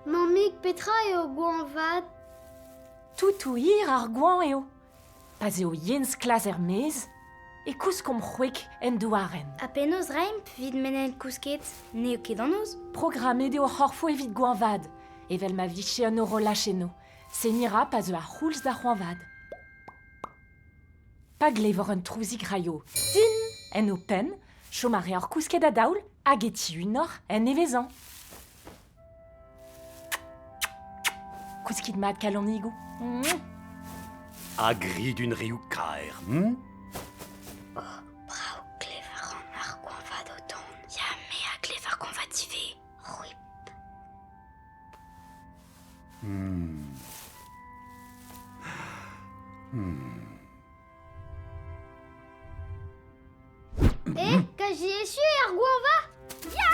Mammig, petra eo goañv vat ? Toutou hir ar goañv eo. Pa'z eo yen sklas er-maez e kouskomp c'hwek en douarenn. Ha penaos reimpl evit menel kousket ? N'eo ket an noz ? Programmet eo ar c'horfo evit goañvaat, evel ma vije an horolaj eno. Seniñ 'ra pa zeu ar c'houlz da c'hoañvaat. Pa glevor un trouzig-raio tin en ho penn, chom a reoc'h kousket a-daol hag e tiunoc'h en nevezañ. Kouskit mat, kalonigoù. A gri d'un riou kaer. hm? Brav klever ar goañvad o tont. Ya, me a klever goañvad ivez. C'hwi Eh, quasi échu er goañva Ya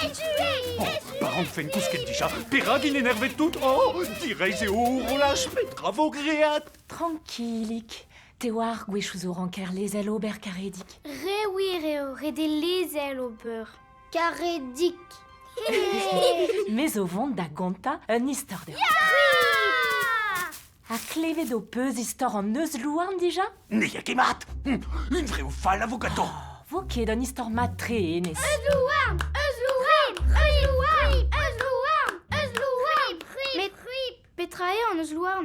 Echu Echu Ar anfen kousket dija, perak il enervet tout Oh, direiz eo horolaj, petra vo great Tranquillik, te oar gwech ouz o ranker lezel ober karedig. Re wir eo, ret eo lezel ober. Karedig Me zo vont da gontañ un istor deoc'h. Ha klevet ho peus istor an euzh-louarn dija Ne ya ket mat Hum, Une vraie ou fall a vo ganto Oh, Vo ket un istor mat-tre, Enez. Euzlouarn, euzlouarn, euzlouarn, euzlouarn, euzlouarn, prip, prip. Petra eo an euzh-louarn